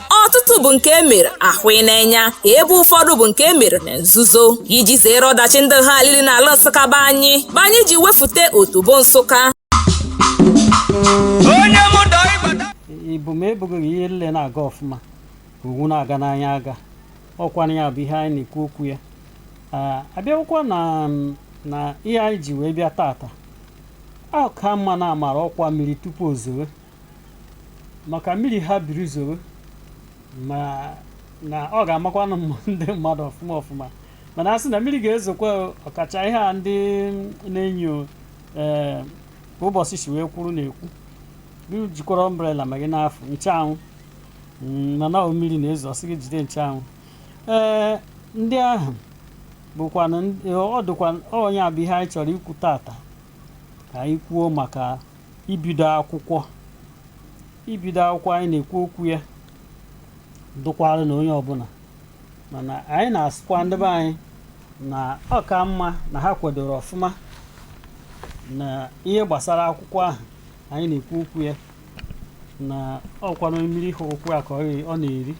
ọtụtụ bụ nke e mere ahụ n'enya ebe ụfọdụ bụ nke e mere na nzuzo iji zere ọdachi ndị ha alili na ala nsụka be anyị bụ anyị ji wefute otobo nsụka onye mụ dọ ịgbata ibu ma ebughị gị ihe nle na-aga ọfụma ka owu na-aga n'anya aga ọ kwanụ ya bụ ihe anyị na-ekwu okwu ya Ah, a bịakwụkwa na mm, na ihe anyị ji wee bịa tata ọ ka mma na a mara ọkwa mmiri tupu o zowe maka mmiri ha biri zoro ma na ọ ga-amakwanụ ndị mmadụ ọfụma ọfụma mana a sị na mmiri ga-ezokwa o, ọkacha ihe a ndị na-enyo ee ka ụbọchị si wee kwuru na-ekwu gị jikwara umbrella ma gị na-afụ ncheanwụ Mm, mana ọ mmiri na-ezo ọ sị gị jide ncheanwụ ee ndị ahụ bụkwanụ ndị- ọ dịkwa ọ onye a bụ ihe anyị chọrọ ikwu tata ka anyị kwuo maka ibido akwụkwọ ibido akwụkwọ anyị na-ekwu okwu ya dụkwara na onye ọbụla mana anyị na-asịkwa ndị be anyị na ọ ka mma na ha kwadoro ọfụma na ihe gbasara akwụkwọ ahụ anyị na-ekwu okwu ya na ọ kwanụ mmiri hụrụ ụkwụ ya ka ọ ghe- ọ na-eri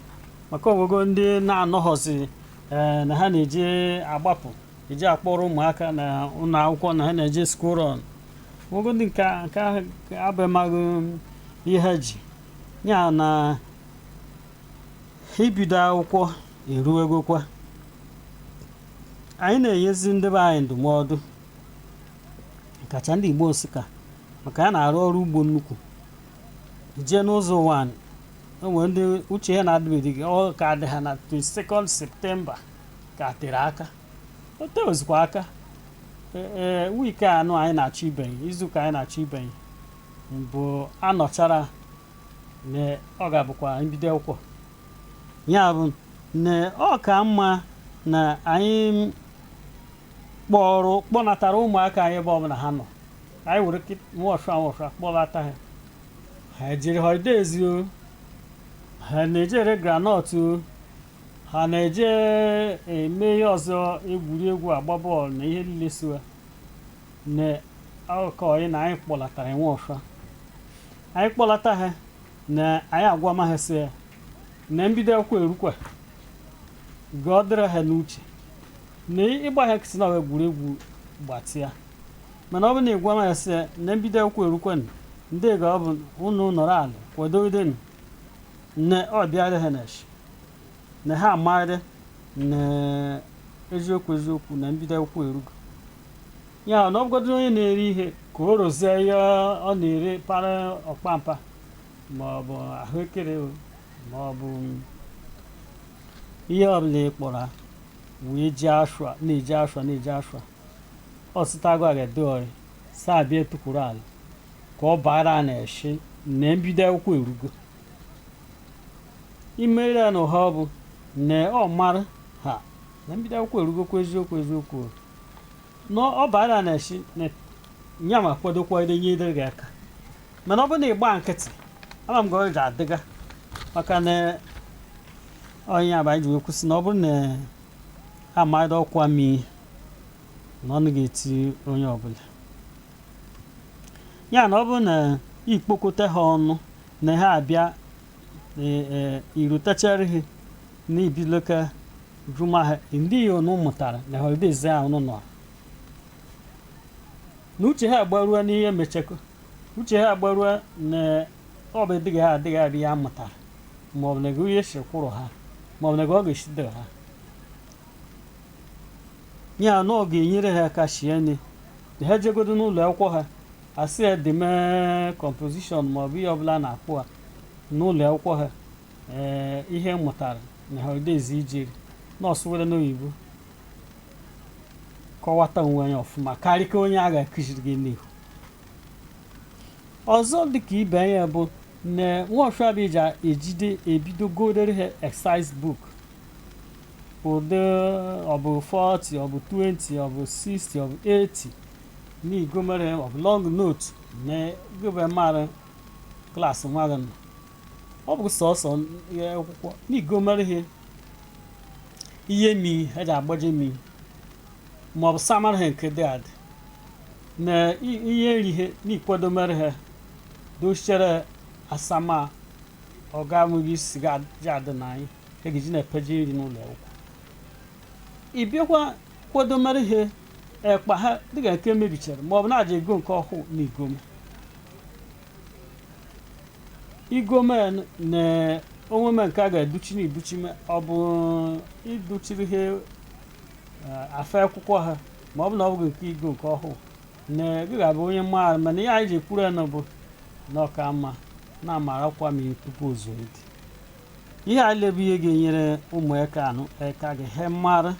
maka o nwego ndị na-anọghọzi ee na ha na-eje agbapụ eje akpọrọ ụmụaka na ụlọ akwụkwọ na ha na-eje school run o nwegodị nke a- nke ahụ abịamaghị ihe ha ji ya na ibido akwụkwọ eruwegokwa anyị na-enyezi ndị be anyị ndụmọdụ kacha ndị igbo nsụka maka ha na-arụ ọrụ ugbo nnukwu jee n'ụzọ ụwanị, o nwere ndị uche ha na-adịbeghị ọ ka dị ha na 22nd septemba ka tere aka o tehozikwa aka ee wiiki anụ anyị na-achọ ibenye izuụka anyị na-achọ ibenye mgbe a nọchara na ọ ga-abụkwa mbido akwụkwọ ya bụ na ọ ka mma na anyị kpọrọ kpọnatara ụmụaka anyị ebe ọbụla ha nọ anyị were nwọsha nwọsha kpọlata ha ha jere holidays o ha na-eje ere groundnut o ha na-eje eme ihe ọzọ egwuregwu agba bọọlụ na ihe niile siwa na akụkọ anyị na anyị kpọlata ha nwọsha anyị kpọlata ha na anyị agwama ha sị ya na mbido akwụkwọ erukwa ka ọ dịrị ha n'uche na ịgba ha nkịtị na egwuregwu gbatịa mana ọ bụ na ị gwama ha sị ya na mbido akwụkwọ erukwa ndị ga ọ bụ unu nọrọ ala kwadogidenụ Ne ọ bịara ha n'ishi na ha amara na eziokwu eziokwu na mbido akwụkwọ erugo ya na ọbụgodo onye na-ere ihe ka o rozie ihe ọ na-ere para ọkpampa ma ọ bụ ahụekere o, ma ọ bụ ihe ọbụla ị kpọrọ ha wee je ashwa na-eje ashwa na-eje ashwa ọsịtago agadi ọrị saa bịa tukwuru ala ka ọ bara ya n'ishi na mbido akwụkwọ erugo imere ya na ụha ọ bụ na ọ mara ha na mbido akwụkwọ erugokwa eziokwu eziokwu na ọ bara n'ishi na ya ma kwadokwa ide nyedere gị aka mana ọ bụrụ na ị gba nkịtị ama m ga ọ ga-adịga maka na ọ nya bụ anyị ji wee kwu sị na ọ bụrụ na a madị ọkwa mmiri na ọ naga eti onye ọbụla ya na ọ bụrụ na ị kpọkọta ha ọnụ na ha abịa irutachara ha n'ibiloka jụma ha ndị ihe ụnụ mụtara na holidays a ụnụ nọ na uche ha agbarua n'ihe mechakọ uche ha agbarua na ọ bụ dịghị ha adịghị adị ya mụtara maọbụ na gị onye si kwụrụ ha maọbụ na gị ọ ga-eshide ha ya na ọ ga-enyere ha aka shie nne na ha jegodo n'ụlọ akwụkwọ ha asị ya deme kọmpozishọn ma ọ bụ ihe ọbụla na-akpụ ha n'ụlọ akwụkwọ ha ee ihe m mụtara na holidays ijeri nọọsụ were n'oyibo kọwata onwe nya ọfụma karị ka onye a ga-akụziri gị n'ihu ọzọ dịka ibe anyị bụ na nwaọfịabija ejide ebido godere ha exercise book ụdị ọ bụ 40 ọ bụ 20 ọ bụ 60 ọ bụ 80 na i gomere ọ bụ long note na gịbe mara klaasị nwa gị nọ ọ bụ sọsọ ihe akwụkwọ na i gomere ihe ihe mmiri eji agbaje mmiri ma ọ bụ samara ha nke dị adị na i- ihe nri ihe na ị kwadomere ha dochere asama ọ ga-amụghị isi ga-adị na anyị a ga-eji na-apaje nri n'ụlọ akwụkwọ ị bịakwa kwadomere ha ekpa ha dịka nke mebichara ma ọ bụ na ị ja-ego nke ọhụụ na i gome i gome na onweme nke a ga-adụchi na ị dụchi me- ọ bụ ịdụchiri ha eh, afe akwụkwọ ha ma ọ bụ na ọ bụghị nke igo nke ọhụụ na gị ga-abụ onye maara mana ihe anyị ji ekwuru ya na bụ na ọ ka mma na-amara kwa ma tupu ozuo dị ihe a lile bụ ihe ga-enyere ụmụeka anụ eka ga he mara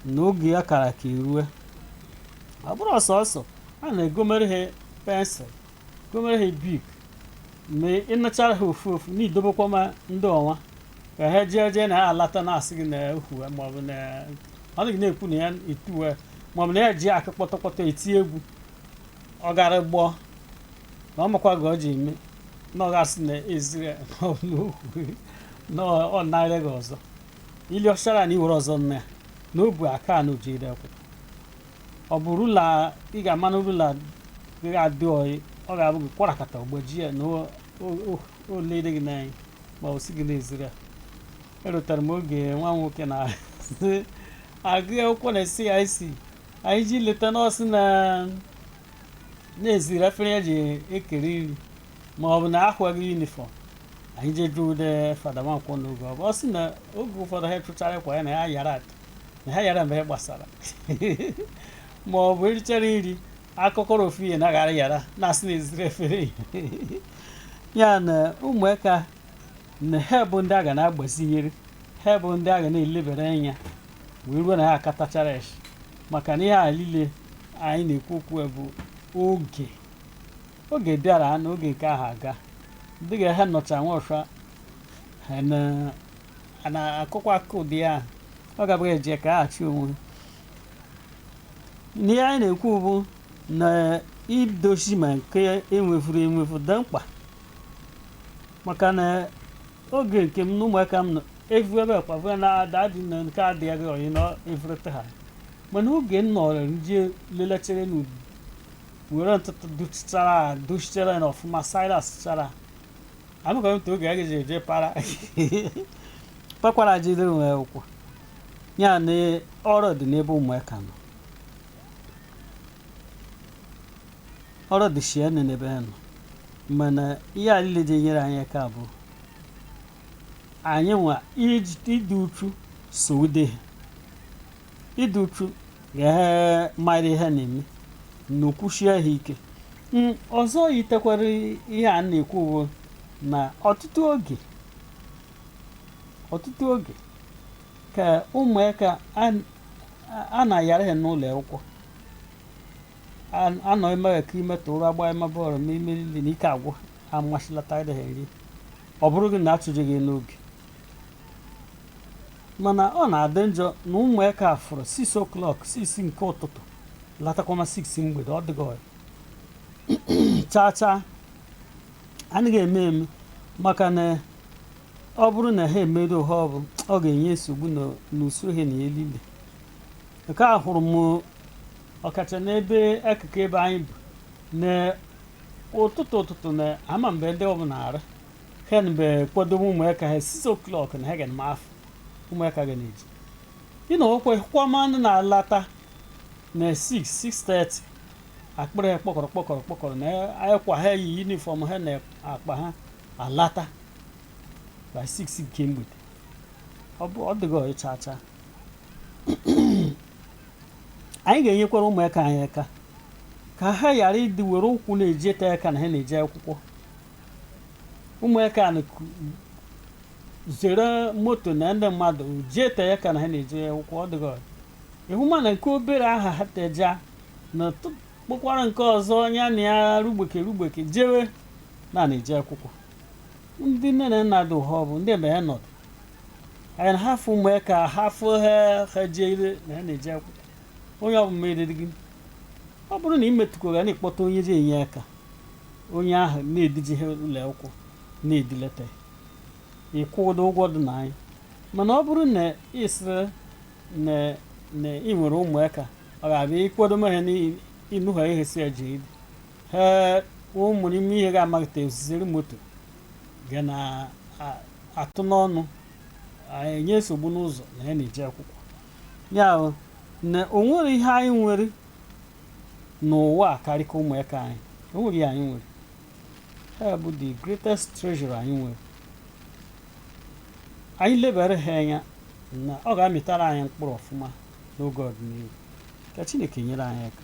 na oge ya kara ka erue ọ bụrọ sọsọ a na-egomere ha pensụl gomere ha bik ma ị nụchara ha ofu ofu na idobekwa ma ndị ọnwa ka ha jee jee na ha alata na-asị gị na ehuwe maọbụ na ọ dịghị na-ekwu na ya etuwe maọbụ na ya ji aka kpọtọkpọtọ eti egwu ọ gara gbọọ na ọ makwa gị ọ ji eme na ọ ga-asị na eziri na ọ nara gị ọzọ ili ọchara na i were ọzọ nụ ya na obu aka na o jere akwụkwọ ọ bụ rula ị ga-ama na rula ga-adị ọyị ọ ga-akwarakata ọ gbajie ya na o lede gị n'anya ma ọ bụ sị gị na eziri ya erotara m oge nwa nwoke na-agụ akwụkwọ na CIC anyị je leta na ọ sị na na eziri efere ya ji ekere nri ma ọ bụ na ahụghị yunifọm anyị je jụ ude fada nwankwọ n'oge ọ bụ ọ sị na oge ụfọdụ ha chụchara akwa ya na ha yara ata na ha yara ebe ha gbasara ma ọ bụ erichara nri akụkọrọ ofu ihe na aghara yara na-asị na eziri efere ya ya na ụmụaka na ha bụ ndị a ga na-agbazinyere ha bụ ndị a ga na-elebara anya wee ruo na ha akatachara echi maka na ihe a niile anyị na-ekwu okwu ya bụ oge oge bịara na oge nke ha ga dị ka ha nọcha nwa ọsha ha na- a na-akụkwa aka ụdị ya ọ gabụghị eje ka ha achị onwe n'ihe anyị na-ekwu bụ na idozi ma nke enwefuru enwefu dị mkpa maka na oge nke m na ụmụaka m nọ- evuebe kwavue na ada dị na nke adịghị ọyị na evrete ha mana oge m nọrọ nje lelechere na ubi were ntụtụ duchitara duchitere na ọfụma silas chara amụkọrọ ntụ oge agaghị eje para pakwara jidere nwe ụkwụ ya na ọrụ dị n'ebe ụmụaka nọ ọrụ dị shie n'ebe ha nọ mana ihe a niile ji enyere anyị aka bụ anyị nwa ịdị uchu so ude ha ịdị uchu ga ha mara ihe na-eme na o kwuchie ha ike ọzọ yitekwara ihe a na-ekwu bụ na ọtụtụ oge ọtụtụ oge ka ụmụaka a na-ayara ha n'ụlọ akwụkwọ anọ emeghị ka ime tụrụ agba ime bọọlụ ma ime niile na ike agwụ amasịlata ha nri ọ bụrụ gị na-achụje gị n'oge mana ọ na-adị njọ na ụmụaka fụrụ 6 o'clock 6 nke ụtụtụ latakwana 6 mgbede ọ dịghị ọya chaa chaa anaghị eme eme maka na ọ bụrụ na ha emedụ ụha ọbụ ọ ga-enye nsogbu n'usoro ha na elile nke ahụrụ m ọkacha n'ebe akụkụ ebe anyị bu na ụtụtụ ụtụtụ na ama mgbe ndị ọbụ na-araha mgbe kwado ụmụaka ha 6 o'clock na ha ga-ama afụ ụmụaka ga na-eje ụnọ akwụkwọ manụ na-alata na 6:30 akpịrị ha kpọkọrọ kpọkọrọ kpọkọrọ na akwa ha yi yunifọm ha na akpa ha alata by 6 nke mgbede ọ dịghị ọya chaa chaa anyị ga-enyekwara ụmụaka anyị aka ka ha ghara ịdị were ụkwụ na-eje ete aka na ha na-eje akwụkwọ ụmụaka na-ezere moto na ndị mmadụ je ete aka na ha na-eje akwụkwọ ọ dịghị ịhụ ma na nke obere aha ha teja na tụ- kpọkwara nke ọzọ ya na ya rugbeke rugbeke jewe na na-eje akwụkwọ ndị nne na nna dị ụha ọ bụ ndị ebe ha nọdụ anyị na hafụ ụmụaka hafụ ha ha jede na ha na-eje akwụkwọ onye ọbụla meriri gị ọ bụrụ na ị metụkwara na ịkpọta onye ji enye aka onye ahụ na-edije ha ụlọ akwụkwọ na-edilata ị kwụdo ụgwọ dị na ya mana ọ bụrụ na ị sịrị na ị nwere ụmụaka ọ ga-abụ ị kwado ha na ịnụha ihe si ya jee idi ha ụmụ n'ime ha ga-amaghị etu esi ezere moto ga na-atụ n'ọnụ enye nsogbu n'ụzọ na ya na-eje akwụkwọ ya ahụ na o nwere ihe anyị nwere n'ụwa a karịka ụmụaka anyị o nwere ihe anyị nwere ha bụ the greatest treasure anyị nwere anyị lebara ha anya na ọ ga-amịtara anyị mkpụrụ ọfụma n'oge ọdịnihu ka Chineke nyere anyị aka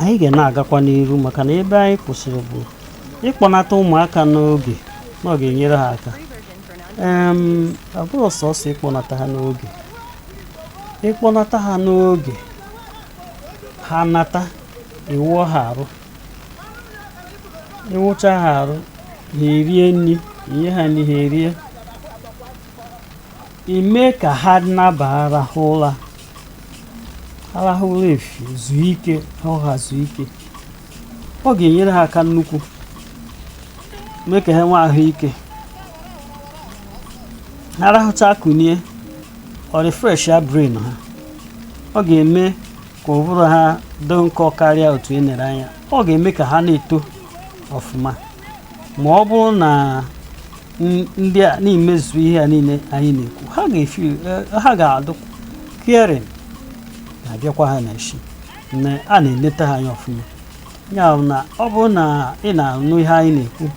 anyị ga na-agakwa n'iru maka na ebe anyị kwụsịrị bụ ịkpọnata ụmụaka n'oge na ọ ga-enyere ha aka Em, ọ bụrọ sọsọ ịkpọnata ha n'oge ịkpọnata ha n'oge ha nata ị wụọ ha arụ ị wụcha ha arụ ha erie nri i nye ha nri ha erie i mee ka ha naba arahụ ụla arahụ ụla efi zuo ike ha ụra zuo ike ọ ga-enyere ha aka nnukwu mee ka ha nwee ahụike ha rahụcha kunie ọ refreshịa brain ha ọ ga-eme ka ụbụrụ ha dị nkọ karịa otu e nere anya ọ ga-eme ka ha na-eto ọfụma ma ọ bụrụ na n- ndị a na-emezu ihe a niile anyị na-ekwu ha ga-efi ha ga-adụ caring na-abịakwa ha n'isi na a na-eleta ha anya ọfụma ya bụ na ọ bụrụ na ị na-anụ ihe anyị na-ekwu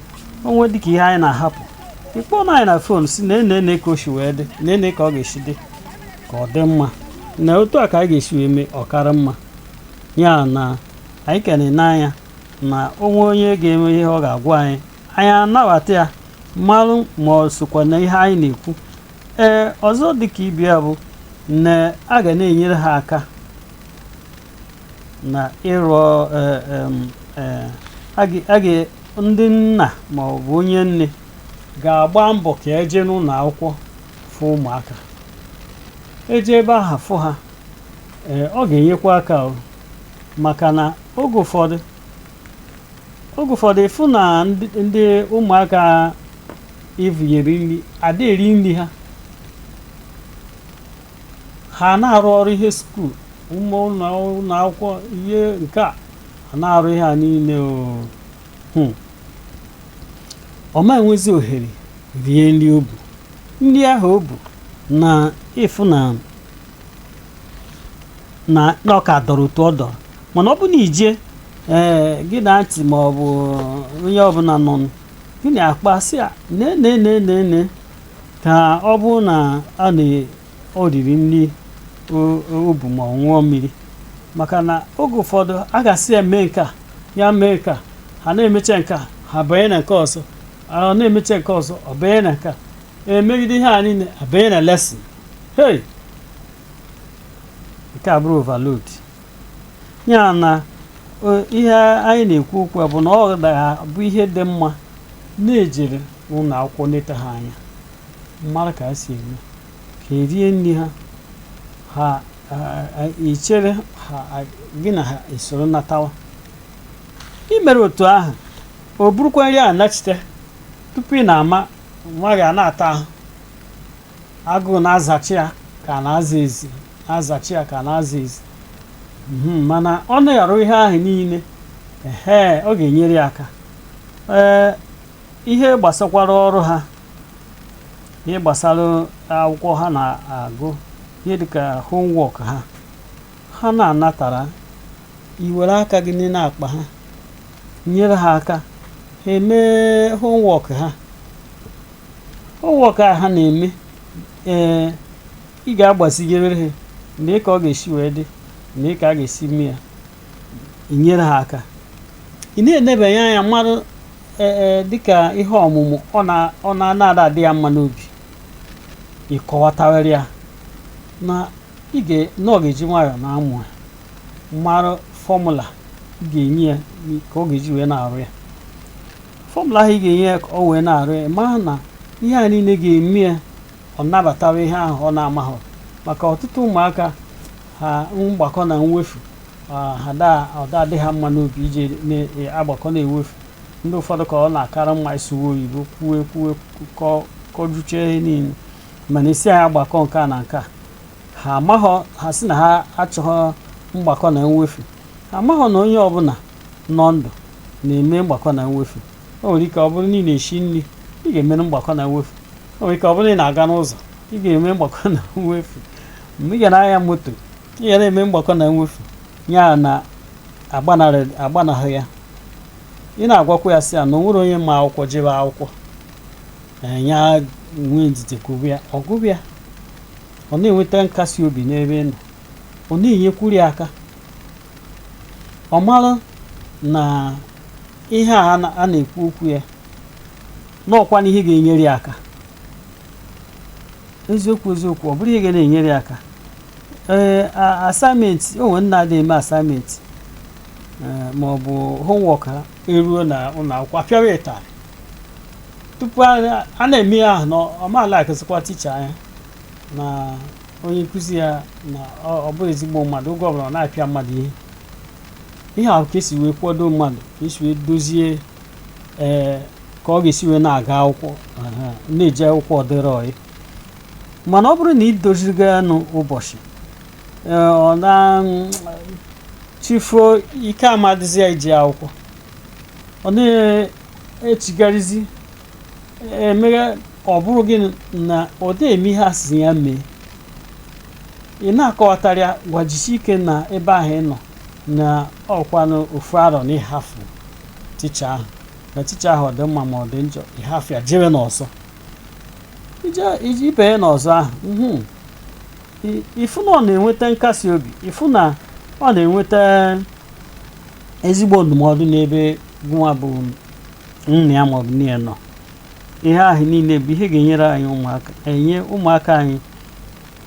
o nwee dịka ihe anyị na-ahapụ ị kpọọ na anyị na fon sị nenee nenee ka o si wee dị nenee ka ọ ga-esi dị ka ọ dị mma na otu a ka anyị ga-esi wee mee ọ kara mma ya na anyị ka na-ene anya na o nwee onye ga-eme ihe ọ ga-agwa anyị anyị anabata ya marụ ma o sokwa na ihe anyị na-ekwu ee ọzọ dịka ibe ya bụ na a ga na-enyere ha aka na ịrụ eh, em, eh, a ga- a ga- ndị nna ma ọ bụ onye nne ga-agba mbọ ka e jee n'ụlọ akwụkwọ fụ ụmụaka e jee ebe aha fụ ha ee ọ ga-enyekwa aka o maka na oge ụfọdụ oge ụfọdụ ị fụ na ndị ndị ụmụaka i vunyere nri ada eri nri ha ha na-arụ ọrụ ihe school ụmụ ụlọ ụlọ akwụkwọ ihe nke a ha na-arụ ihe a niile o Hmm. ọ ma enwezi ohere rie nri o bu nri ahụ o bu na ị fụ na na na ọ ka dọrọ otu ọ dọrọ mana ọ bụ na i jee ee gị na aunty ma ọ bụ onye ọbụla nọ gị na ya akpa sị ya nee nee nee nee nee ka ọ bụrụ na a na ọ riri nri o bu ma ọ ṅụọ mmiri maka na oge ụfọdụ a ga-asị ya mee nke a ya mee nke a ha na-emecha nke a ha banye na nke ọzọ ọ na-emecha nke ọzọ ọ banye na nke a e megide ihe a niile a banye na lesson hey nke a bụrụ overload ya na ihe anyị na-ekwu okwu bụ na ọ ga-abụ ihe dị mma na e jere n'ụlọ akwụkwọ neta ha anya mara ka ha si eme ka e rie nri ha ha i chere ha gị na ha esoro natawa i mere otu ahụ o burukwa nri a nachite tupu ị na-ama nwa gị a na-ata ahụ agụụ na-azachi ya ka a na-aza ezi na-azachi ya ka a na-aza ezi mana ọ na-arụ ihe ahụ niile ee ọ ga-enyere ya aka ee ihe gbasakwara ọrụ ha ihe gbasara akwụkwọ ha na-agụ ihe dịka homework ha ha na-anatara i were aka gị nee n'akpa ha nyere ha aka ha emee homework ha homework a ha na-eme ee ị ga-agbazigere ha nee ka ọ ga-esi wee dị nee ka a ga-esi mee ya i nyere ha aka ị na-enebanye anya marụ ee dịka ihe ọmụmụ ọ na-ada adị ya mma n'obi ị kọwatawara ya na ọ ga-eji nwayọọ na-amụ ya marụ formula ị ga-enye ya ka ọ ga-eji wee na-arụ ya formula ahụ ị ga-enye ya ka ọ wee na-arụ ya maka na ihe a niile ga-eme ya ọ nabatawa ihe ahụ ọ na-amaghị maka ọtụtụ ụmụaka ha mgbakọ na mwefu ada adị ha mma n'obi iji na-agbakọ na-ewefu ndị ụfọdụ ka ọ na-akara mma ịsụwa oyibo kwuwe kwuwe kọjuchie ihe niile mana ị sị anyị agbakọ nke a na nke a ha amaghọ ha sị na ha achọghọ mgbakọ na mwefu ha amaghọ na onye ọbụla nọ ndụ na-eme mgbakọ na mwefu o nwere ike ọ bụrụ na ị na-esi nri ị ga-emere mgbakọ na mwefu o nwere ike ọ bụrụ na ị na-aga n'ụzọ ị ga-eme mgbakọ na mwefu mgbe ị ga na-anya moto ị ga na-eme mgbakọ na mwefu ya na agbanahụ ya ị na-agwakwa ya sị ya na o nwerọ onye ma akwụkwọ jebe akwụkwọ ee, ya nwee ndidi gụba ya ọ gụba ya ọ na-enweta nkasi obi n'ebe ị nọ ọ na-enyekwuru ya aka ọ mara na ihe a a na- a na-ekwu okwu ya na ọkwanụ ihe ga-enyere ya aka eziokwu eziokwu ọ bụrụ ihe ga na-enyere ya aka ee a- assignment o nwere ndị na-ada eme assignment ee, ma ọ bụ homework ha eruo na ụlọ akwụkwọ a pịawa ịtarị tupu a a na-eme ya ahụ na ọ ma-alikezikwa teacher ya na onye nkụzi ya na ọ bụrọ ezigbo mmadụ oge ọbụla ọ na-apịa mmadụ ihe ihe ahụ ka e si wee kwado mmadụ ka e si wee dozie ee ka ọ ga-esi wee na-aga akwụkwọ aha, na-eje akwụkwọ ọ dịrị ọyị mana ọ bụrụ na ị dozighị ya nụ ụbọchị ee, ọbụna chi fo ike ama adịzi ya ije akwụkwọ ọ na-echigharịzi emere ọ bụrụ gị na ọ da eme ihe a sị ya mee ị na-akọwatara ya gwa ya jisi ike na ebe ahụ ị nọ na ọkwanụ ofu arọ na ị hafụ teacher ahụ na teacher ahụ ọ dị mma ma ọ dị njọ ị hafụ ya jebe n'ọzọ ị banye n'ọzọ ahụ mhm. ị fụ na ọ na-enweta nkasi obi ị fụ na ọ na-enweta ezigbo ndụmọdụ n'ebe gụnwa bụ nna ya maọbụ nne ya nọ ihe ahụ niile bụ ihe ga-enyere anyị aka enye ụmụaka anyị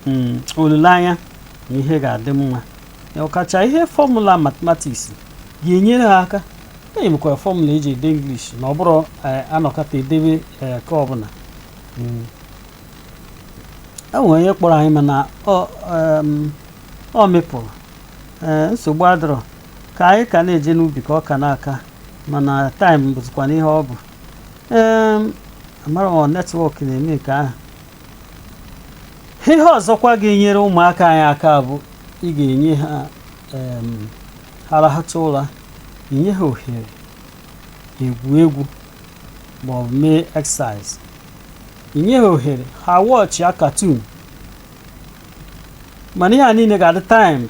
mm, olileanya na ihe ga-adị mma ọkacha ihe fọmụla matematiks ga-enyere ha aka enyekwara fọmụla eji ede English na ọ bụrụ eh, anọkata edebe eh, ka ọbụla mm. e nwere onye kpọrọ anyị mana ọ mepụrụ eh, nsogbu adịrọ ka anyị ka na-eje n'ubi ka ọ ka na-aka mana taịm bụzikwanụ ihe ọ bụ ee amara m netwọk na-eme nke ahụ ihe ọzọkwa ga-enyere ụmụaka anyị aka bụ ị ga-enye ha em, ha rahata ụra inye ha ohere igwu egwu ma ọ bụ mee exercise inye ha ohere ha wọchịa katun mana ihe a niile ga-adị timed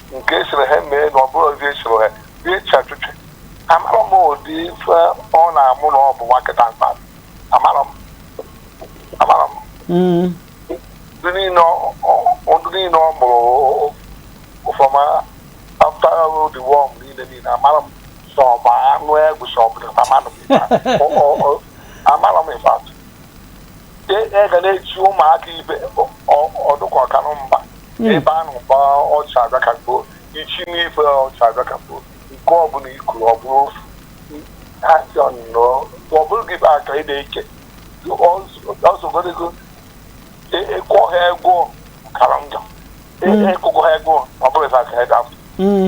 nke esiri ha mee na ọ bụrụ ozi esiri ha bie echi achụchị amarọ m ụdị ife ọ na-amụ na ọ bụ nwa kịta mkpa amara m amara m Mm. ndị niile ọ- ọ- ndị niile ọ mụrụ from after the war niile niile amarọ m sọ ọ bụ anụ egwu sọ ọ bụ dịkwa mmadụ bụ ife a. Ọ- ọ- ọ- amarọ m ife atụ e e ga na-echi ụmụaka ibe ọ- ọ- ọdụkọ ọkanụ mba hmm. ebe a na-agba ọcha agakagbo ichi n'ife ọcha agakagbo nke ọbụla ikuru ọ bụrụ ofu ha si ọnụnọ ọ bụrụ gị bụ aka ị na-eke ọzọgorego ịkwọ e, e ha egwọ kara njọ ịkụkọ hmm. e, ha egwọ ọ bụrụ ife aka ị dafụ hmm.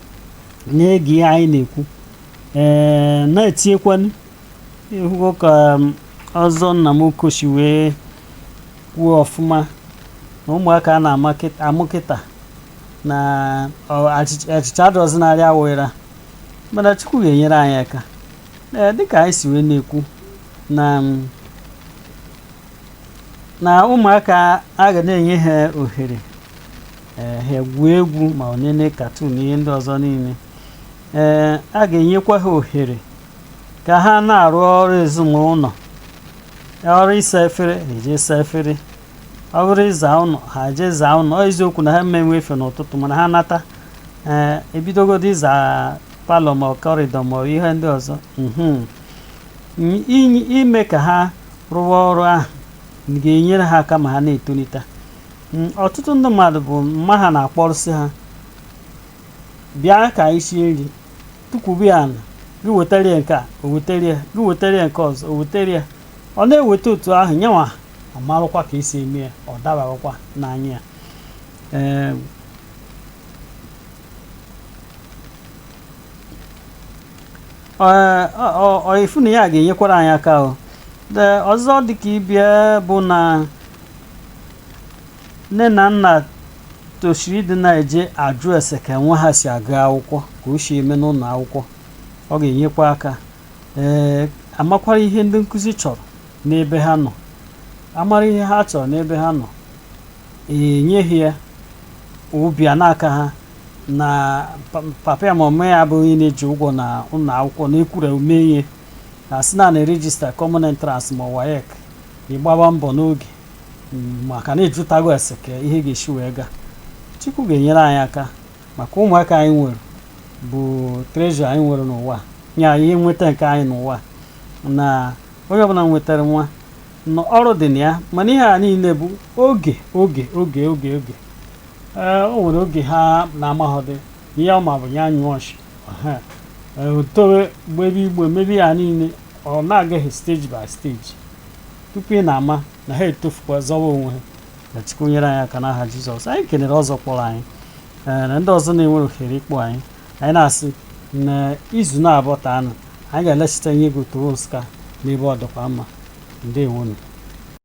na-ege ihe anyị na-ekwu ee na-etinyekwanụ ịhụgo ka um, ọzọ Nnamọkọ si wee kwuo ọfụma na ụmụaka a na-amụ kịta na achịcha adọzi narị awụra mana Chukwu ga-enyere anyị aka ee dịka anyị si wee na-ekwu na um, na ụmụaka a ga na-enye ha ohere ee ha egwuo egwu ma ọ nenee katun ihe ndị ọzọ niile ee a ga-enyekwa ha ohere ka ha na-arụ ọrụ ezinụlọ ọ bụrụ ịsa efere ha eje saa efere ọ bụrụ ịza ụlọ ha eje zaa ụlọ ọ eziokwu na ha ama enwe efe n'ụtụtụ mana ha nata ee ebidogodu ịza palọ ma kọrịdọ ma ihe ndị ọzọ mhm. N- inye- ime ka ha rụwa ọrụ ahụ ga-enyere ha aka ma ha na-etolite Mm, ọtụtụ ndị mmadụ bụ mma ha na-akpọrụsị ha bịa ka anyị sie nri tukwubi ya ala gị wetara ya nke a o wetara ya gị wetara ya nke ọzọ o wetara ya ọ na-eweta otu ahụ ya nwa amarụkwa ka e si eme ya ọ dabarakwa n'anya ya Ee, ọ- ọ- ị fụ na ya ga-enyekwara anyị aka o Ee, ọzọ dịka ibe ya bụ na nne na nna tosiri ịdị na-eje ajụ ese ka nwa ha si agụ akwụkwọ ka o si eme n'ụlọ akwụkwọ ọ ga-enyekwa aka ee amakwara ihe ndị nkụzi chọrọ n'ebe ha nọ amara ihe ha chọrọ n'ebe ha nọ enye ha ya obi a na-aka ha na pa- papa ya ma mama ya abụghị na-eji ụgwọ na ụlọ akwụkwọ na e kwuru mee ihe na a sị na a na-erejista common entrance ma WAEC ị gbaba mbọ n'oge mm, maka na ịjụtago ese ka ihe ga-esi wee gaa Chukwu ga-enyere anyị aka maka ụmụaka anyị nwere bụ treasure anyị nwere n'ụwa ya ihe nweta nke anyị n'ụwa na onye ọbụla nwetara nwa na ọrụ dị na ya mana ihe a niile bụ oge ee o nwere oge ha na-amaghọdị ihe ọ ma bụ ya nyụọ nsị Aha. Ee, o towe gbebe igbe mebe ihe a niile ọ na-aga stage by stage tupu ị na-ama na ha etofukwa zọwa onwe ha ka Chukwu nyere anyị aka n'aha Jizọs anyị kelere ọzọ kpọrọ anyị ee, na ndị ọzọ na-enwere ohere ịkpọ anyị anyị na-asị na izu na-abọtanụ anyị ga-alachita ihe ego Otobo Nsụka n'ebe ọ dịkwa mma ndewo nụ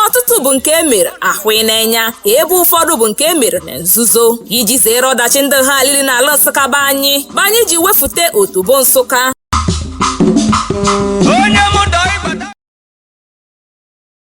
ọtụtụ bụ nke e mere ahụ n'enya ebe ụfọdụ bụ nke e mere na nzuzo iji zere ọdachi ndị ha alili n'ala Nsụka be anyị bụ anyị ji wefute Otobo Nsụka